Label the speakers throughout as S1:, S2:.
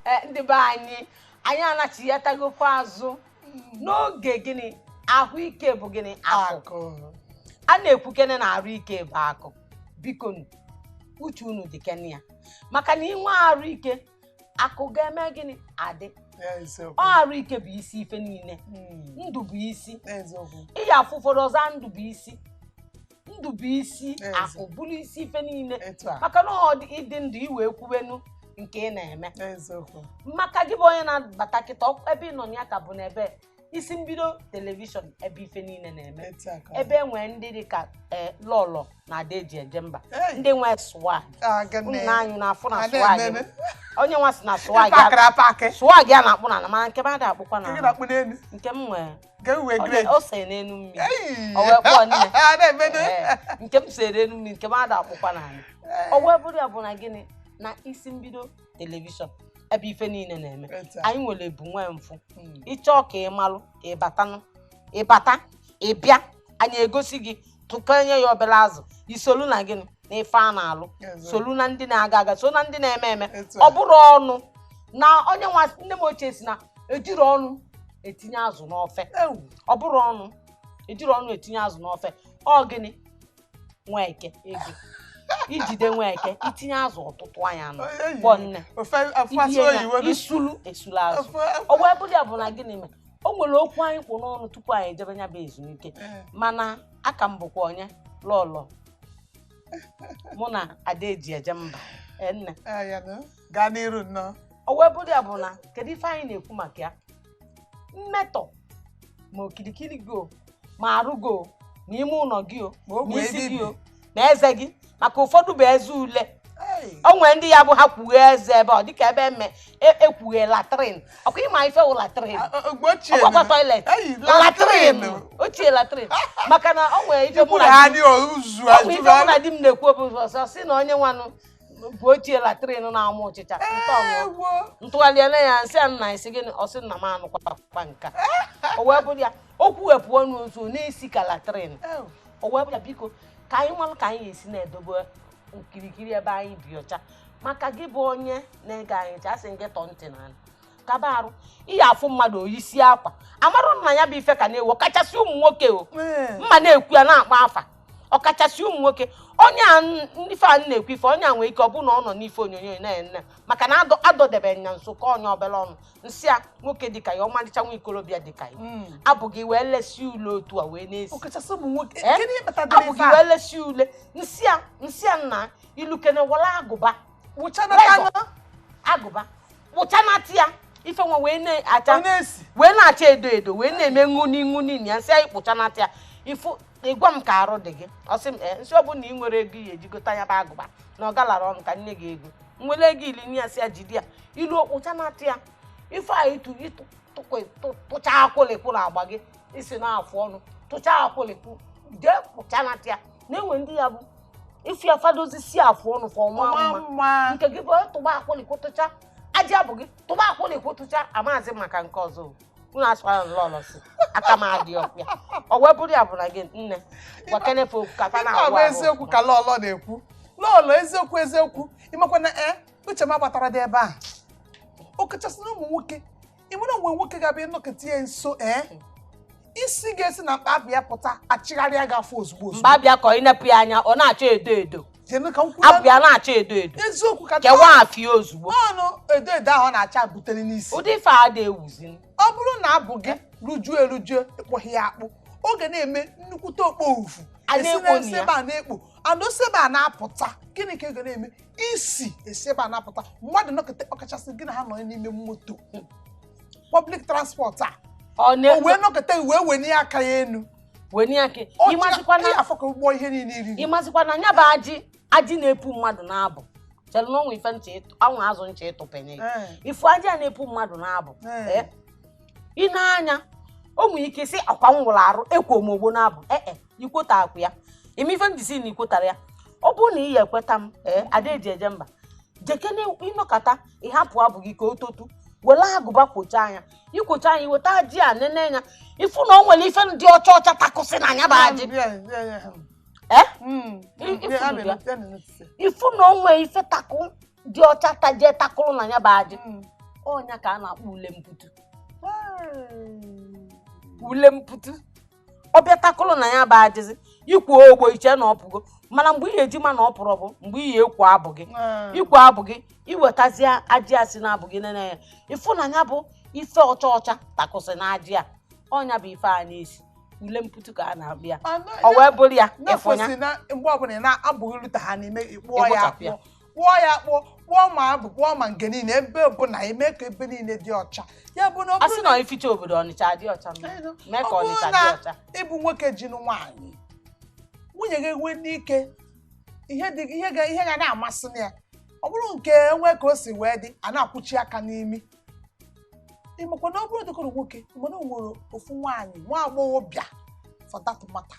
S1: eh, ndị be anyị anyị anachiyatagokwa azụ n'oge gịnị ahụike bụ gịnị akụ a na-ekwukene na arụ ike bụ akụ biko uche unu dịkene ya maka na i nwee arụ ike akụ ga-eme gịnị adị ọ arụ ike bụ isi ife niile hmm. ndụ bụ isi ị ya-afụ ụfọdụ ọ zaa ndụ bụ isi ndụ bụ isi Eziokwu. bụrụ isi ife niile etu a maka na ọ dị ị dị ndụ i wee kwubenu nke ị na-eme eziokwu maka gị bụ onye na-abata kịta ọ- ebe ị nọ na ya ka bụ n'ebe isi mbido telivishọn ebe ife niile na-eme etu a ka ọ ebe e nwere ndị dị ka eh, lọlọ na ada eji eje mba Hey. ndị nwe swag aga unu na anyị na-afụ na Ada swag ememe. onye nwa si na swag ya- pakịrị apakị swag ya na-akpụ n'ana mana nke m ada akpụkwa n'anị na-akpụ n'elu nke m nwee Nke m nwee Ọ great. na- o sere n'enu mmiri Ei! O wee kpọọ nne. A na-emedo. Ee, nke m sere n'enu mmiri nke m ada akpụkwa n'anị o wee bụrụ ya bụ na gịnị na isi mbido telivishọn ebe ife niile na-eme Etu a. anyị nwere ebu nwee mfụ Mm. ị chọọ ka ị malụ ị batanụ ị bata ị bịa anyị egosi gị tụkanye ya obere azụ i solu na gịnị n'ife a na-alụ solu na ndị na-aga aga so na ndị na-eme eme ọ bụrọ ọnụ na onye nwa nne m ochie si na ejirọ ọnụ etinye azụ n'ofe ọ bụrọ ọnụ ejirọ ọnụ etinye azụ n'ofe ọ gịnị Nweke ego i jide Nweke i tinye azụ ọtụtụ anya nọ kpọ nne isulu esulu azụ o wee bụrụ ya bụ na gịnị mere o nwere okwu anyị kpụ n'ọnụ tupu anyị ejebe ya bụ ezumike eh. mana a ka m bụkwa onye lọlọ mụ na ada eji eje mba eh, nne ah,
S2: gaa n'iru nnọọ o wee bụrụ ya
S1: bụ na kedu ife anyị na-ekwu maka ya mmetọ ma okirikiri gị o ma arụ gị o ma ime ụlọ gị o ma isi gị o ma eze gị maka ụfọdụ bụ eze ule o nwere ndị ya bụ ha kwughe eze ebe ọ dịka ebe eme e- ekwughe latrin ọ kwa ị ma ife wụ latrin ọkwakwa toilet latrin ochie latrin maka na o nwere ife mụ na di m na-ekwu obi ọsọ si na onye nwanụ bụ ochie latrin na-amụ ụchịcha m tụgharịa lee ya m sị a nna ị sị gịnị ọ sị nna m anụkwa nka o wee bụrụ ya o kwughepụ ọnụ ozu na-esi ka latrin o wee bụrụ ya biko ka anyị malụ ka anyị esi na-edobe okirikiri ebe anyị bi ọcha maka gị bụ onye na-ege anyị ntị a sị gị tọọ ntị n'ala kaba arụ ị ya-afụ mmadụ o yisi akwa a marụ na ya bụ ife ka na-ewu ọkachasị ụmụ nwoke o mma na-ekwu ya na-akpọ afa ọkachasị ụmụ nwoke onye a ife a na-ekwu ife onye a nwee ike ọ bụrụ na ọ nọ n'ife onyonyo na-ene maka na a dọdebe ya nso ka onye ọbụla ọnụ m sị ya nwoke dịka ya ọmalịcha nwa ikolobịa dịka ya hmm. abụ gị wee lesi ule otu a wee na-esi abụ gị wee lesi ule m sị ya m sị ya nna i lukene were agụba agụba kpụchanata ya ife nwa wee na-acha wee na-acha edo edo wee na-eme ṅụni ṅụni na ya m sị ya na ị kpụchanata ya ị fụ ị gwa m ka arụ dị gị ọ sị m ee m sị ọ bụrụ na ị nwere ego i ya-eji gota ya bụ agụba na ọ galara ọnụ ka m nye gị ego m were ego ili nye ya sị ya jide ya i lu ị kpụchanata ya ife a ịtụ ịtụ tụkwa- tụ- tụcha akwụlịkwụ na agba gị isi na afụ ọnụ tụcha akwụlịkwụ jee kpụchanata ya na e nwe ndị ya bụ ife ya fa dozie isi afụ ọnụ fa ọma ọma mma mma nke gị bụ tụba akwụlịkwụ tụcha ajị abụ gị tụba akwụlịkwụ tụcha amaghịzi maka nke ọzọ o. unu asịkwana lọlọ sị aka m adịrọkwa ya ọ wee bụrụ ya bụ na gị nne gwakene fa okwu ka fa na-awụ ahụ eziokwu ka lọlọ
S2: na-ekwu lọlọ eziokwu eziokwu ị makwa na ee uche m agbataradị ebe a o kachasị na ụmụ nwoke ị nwere o nwe nwoke ga-abịa ị nọketa ya nso ee isi ga-esi na mkpa abụ ya pụta achịgharịa gị afọ ozugbo ozugbo mkpa abụ ya ka ọ i
S1: nepụ ya anya ọ na-acha edo edo abụ ya na-acha edo edo eziokwu ka
S2: kewaa afịa
S1: ozugbo ọnụ edo
S2: edo ahụ na-acha butere n'isi ụdị ife a dị ewuzi
S1: ọ bụrụ na abụ
S2: gị rujuo erujuo ị kpụghị ya akpụ ọ ga na-eme nnukwute okpofufu esi ebe a na-ekpo ana esi ebe a na-apụta gịnị ka ọ ga na-eme isi esi ebe a na-apụta mmadụ nọketa ọkachasị gị na ha nọ n'ime moto hmm. public transport a o wee nọketa wee wenie aka ya enu ị mazikwa na nya bụ
S1: ajị ajị na-epu mmadụ n'abụ chere na ọnwa ife ncha anwụ azụ ncha ịtụpenye eh. ị fụ ajị a na-epu mmadụ n'abụ eh. Eh. i nee ya anya o nwere ike sị akwa m wụrụ arụ ekwo m ogbo n'abụ ee ikwota akwụ ya ime ife ndị sị na i kwotara ya ọ bụrụ na ị ya-ekweta m ee ada eji eje mba jekene ị nọkata ị hapụ abụ gị ka o totu were agụba kpụchaa nya ị kpụchaa nya i weta ajị a nene ya ị fụ na o nwere ife ndị ọcha ọcha takụsị na nya bụ ajị eh? hmm. ị fụ na o nwere ife takụ dị ọcha tajie takụrụ na ya bụ ajị hmm. ọ nya ka a na-akpọ ule mputu ule mputu ọ bịa takụlụ na ya bụ ajịzị i kwoo ogbo i chee na ọ pụgo mana mgbe i ya-eji ma na ọ pụrọ bụ mgbe i ya-akpụ abụ gị ah. ị kpụọ abụ gị i wetazie ajị a si n'abụ gị nene ya ị fụ na ya bụ ife ọcha ọcha takụsị na ajị a ọ nya bụ ife a na-esi ule mputu ka a na-akpọ ya ọ wee bụrụ ya ị fụ ya mgbe ọbụla ị
S2: na abụ gị lụta ha n'ime ị kpụọ ya akpụọ kpụọ ya kpụọ kpụọ ma abụ kpụọ ma nke niile ebe ọbụla i mee ka ebe niile dị ọcha ya bụ na ọ a sị bụrụ na na ificha obodo ọnịcha
S1: dị ọcha mma. Ee, no. mee ka Ọ bụrụ ọnịcha na dị ọcha ị bụ nwoke ji nụ
S2: nwaanyị nwunye gị nwee n'ike ihe dị ihe ga ihe ga na-amasị na ya ọ bụrụ nke o nwe ka o si wee dị a na-akwuchi aka n'imi ị makwa na ọ bụrụ dịkọrọ nwoke mana o nwere ofu nwaanyị nwa agbọghọbịa for that matter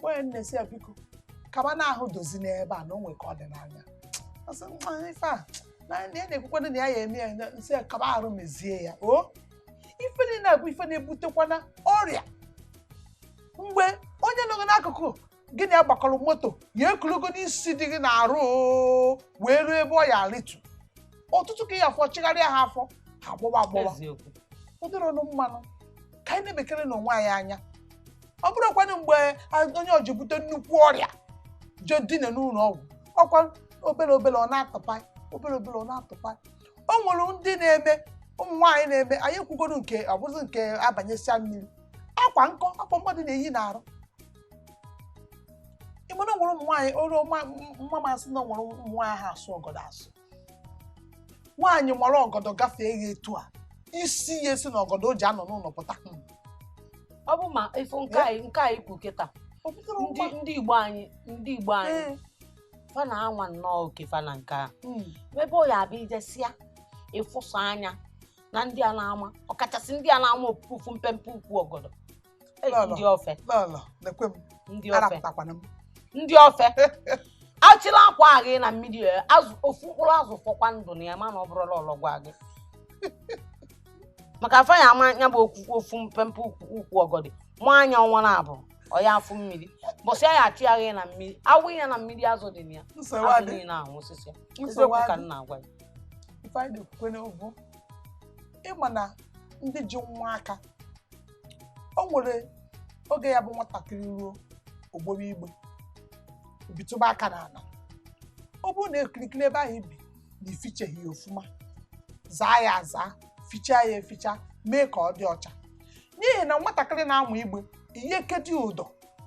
S2: nwanyị nne si ya biko kaba na ahụ dozi n'ebe a na o nwe ka ọ dị n'anya Ọ sị, "Nwa, ife a na na ya na-ekwukwana na ya ya eme ya na- nsị ya kaba arụ mezie ya o ife niile na-abụ ife na-ebutekwana ọrịa mgbe onye nọ gị n'akụkụ gị na ya gbakọrọ moto ya ekulugo n'isi dị gị n'arụ oo, wee ruo ebe ọ ya arịtu ọtụtụ ka ya afọ chigharịa ha afọ ha agbọwa agbọwa eziokwu ụdịrị ọnụ mmanụ ka anyị na-elekerenụ onwe anyị anya ọ bụrụkwanụ mgbe a- onye o ji bute nnukwu ọrịa je dina n'ụlọ ọgwụ ọkwa obere obere ọ na-atụpa obere obere ọ na-atụpa o nwere ndị na-eme ụmụ nwaanyị na-eme anyị ekwugoro nke ọ bụzi nke a banyesịa mmiri akwa nko akwa mmadụ na-eyi n'arụ ị ma na o nwere ụmụ nwaanyị olu mma masị na o nwere ụmụ nwaanyị ha asụ ọgọdọ asụ nwaanyị mara ọgọdọ gafee gị etu a isi ya esi na ọgọdọ o ji anọ n'ụlọ
S1: pụta ọ bụ ma ife nke anyị nke anyị kwu kịta O pụtara ndị ụgba. ndị igbo anyị ndị igbo anyị Ee, fa na-anwa nnọọ oke fa na nke a mm, ebe ọ ya abịa i jesịa ị fụsịa anya na ndị a na-ama ọkachasị ndị a na-ama ofu ofu mpempe ukwu ọgọdọ ndị ofe ndị ofe achịla akwa aga na mmiri azụ ofu mkpụrụ azụ fọkwa ndụ na ya mana ọ bụrụla ọlọgwa gị maka fa ya ama ya bụ ofu mpempe ukwu ọgọdọ maa ya ọnwa naabọ ọ ya afụ mmiri mbọsị a ya achị ya aga na mmiri a wụ ya na mmiri azụ dị na ya azụ niile anwụsịsịa eziokwu ka m na-agwa gị ife anyị na-ekwukwa n'obu
S2: ị ma na ndị ji nwa aka o nwere oge ya bụ nwatakịrị ruo ogboro igbe bitụba aka n'ala ọ bụrụ na okirikiri ebe ahụ i bi na i ficheghị ya ọfụma zaa ya aza fichaa ya eficha mee ka ọ dị ọcha n'ihi na nwatakịrị na-amụ igbe ị ya ekedo ụdọ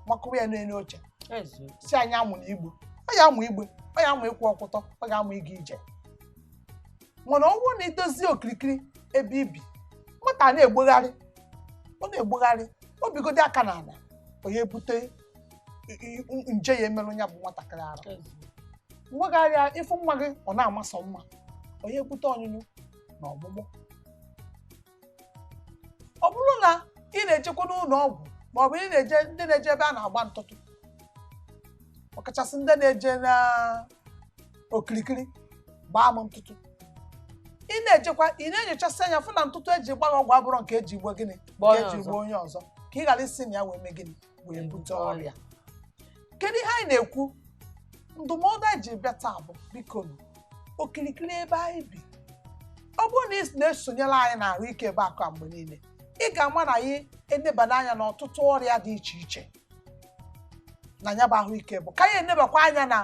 S2: makụwa ya n'elu oche sị ya amụna igbe ọ ya amụ igbe ọ ya amụ ịkwụ ọkwụtọ ọ ga-amụ ịga ije mana ọ bụrụ na i dozie okirikiri ebe i bi nwata a na-egbegharị ọ na-egbegharị o bigodi aka na ala ọ ya ebute i- i- i- nje ya emerụ ya bụ nwatakịrị arụ e megharịa ị fụ nwa gị ọ na-amasọ mma ọ ya ebute ọnyụnyụ na ọgbụgbọ ọ bụrụ na ị na-ejekwa n'ụnọ ọgwụ ma ọ bụ ndị na-eje ebe a na-agba ntụtụ ọkachasị ndị na-eje na okirikiri gbaa m ntụtụ ị na-ejekwa ị na-enyochasị anya fụ na ntụtụ eji gba gị ọgwụ abụrọ nke eji mee gịnị eji gbaa onye ọzọ ka ị ghara isi na ya wee mee gịnị wee bute ọrịa kedu ihe anyị na-ekwu ndụmọdụ anyị ji bịa taa bụ biko nụ, okirikiri ebe anyị bi ọ bụrụ na ị na-esonyere anyị na ahụike bụ akụ a mgbe niile ị ga-ama na anyị enebana anya n'ọtụtụ ọrịa dị iche iche na ya bụ ahụike bụ akụ anyị enebakwa anya na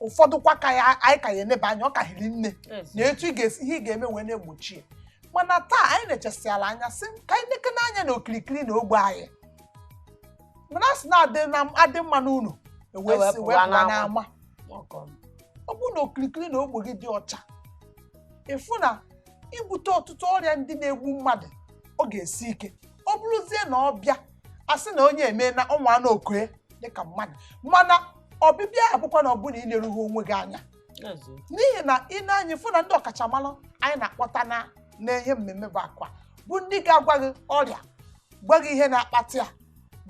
S2: ụfọdụkwa ka anyị ka ya-eneba anya ọ ka hiri nne na etu ihe ị ga-eme wee na-egbochi ya mana taa anyị enechasịala anya sị ka anyị nekene anya na okirikiri na ogbe anyị mana a sị na adị mma n'ụnọ wee pụwa n'ama ọ bụrụ na okirikiri na ogbe gị dị ọcha ị fụ na ibute ọtụtụ ọrịa ndị na-egbu mmadụ ọ ga-esi ike ọ bụrụzie na ọ bịa a sị na onye emena ọ nwana oko ya dịka mmadụ mana ọbịbịa ya abụkwana ọ bụ na inerughị onwe gị anya n'ihi na i nee anya ị fụ na ndị ọkachamara anyị na-akpọta n'ihe mmemme ebe a kwa bụ ndị ga-agwa gị ọrịa gwa gị ihe na-akpata ya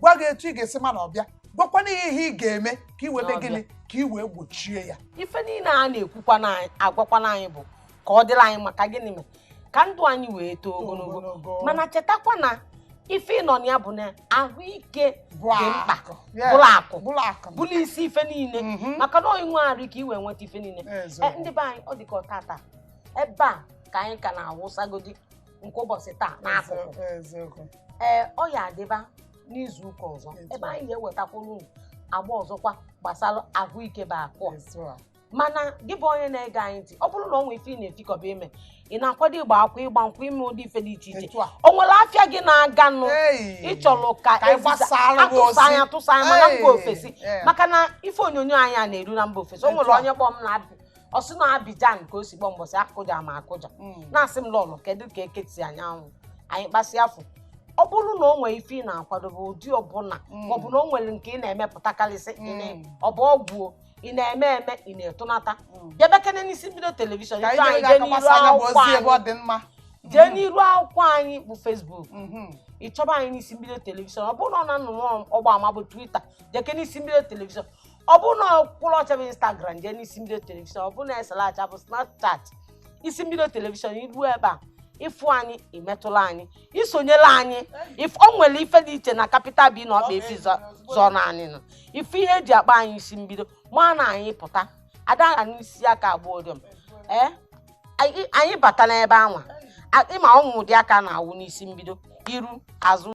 S2: gwa gị etu ị ga-esi ma na ọ bịa gwakwanụ gị ihe ị ga-eme ka ị wee mee gịnị ka ị wee gbochie ya ife niile a na-ekwukwa
S1: na-agwakwanụ anyị bụ ka ọ dịlị anyị mma ka gịnị mee ka ndụ anyị wee too ogologo mana chetakwa na ife a nọ na ya bụ na ahụike dị mkpa bụrụ akụ bụrụ isi ife niine mm-hmm. maka na i nwee arụ ike i wee nweta ife niine eh, ndị be anyị ọ dị ka ọtata ebe a ka anyị ka na-awụsagodi nke ụbọsị taa n'akụkụ ee eh, ọ ya-adịba n'izu ụka ọzọ ebe anyị ga-ewetakwuru agba ọzọkwa gbasara ahụike bụ akụ mana gị bụ onye na-ege anyị ntị ọ bụrụ na o nwee ife ị na-efikọba ime ị na-akwado ịgba akwụkwọ ịgba nkwụ ime ụdị ife dị iche iche Etu a. o nwere afịa gị na-aga nụ ị chọrọ ka atụsa ya ma na mba ofesi Yeah. maka na ife onyonyo anyị a na-eru na mba ofesi o nwere onye kpọọ m na o si na Abidjan ka o si kpọọ mbọsị akụja ma akụja Mm. na-asị m lọlọ kedu ka eketi anyanwụ anyị kpasịa afọ ọ bụrụ na o nwere ife ị na-akwadobe ụdị ọbụla Mm. maọbụ na o nwere nke ị na-emepụtakarịsị Mm. ọ bụ ọgwụ o, ị na-eme eme ị na-atụnata Mm. bịabekene n'isi mbido telivishọn jee n'iru akwụkwọ anyị bụ Facebook Mhm. ị chọba anyị n'isi mbido telivishọn ọ bụrụ na ọ nnụnụ ọgba ama bụ Twitter jekene n'isi mbido telivishọn ọ bụrụ na ọkụlụ ọcha bụ instagram jee n'isi mbido telivishọn ọ bụrụ na eselacha bụ snapchat isi mbido telivishọn i ruo ebe a ị fụ anyị imetụla anyị isonyela anyị if o nwere ife dị iche na Capital B na ọkpa efi zọ- zọrọ n'anị nọ ife ihe eji akpa anyị isi mbido mana anyị pụta adara n'isi aka abụọ dị m ee anyị anyị bata n'ebe anwa a- ịma ụmụ ụdị aka na-awụ n'isi mbido iru azụ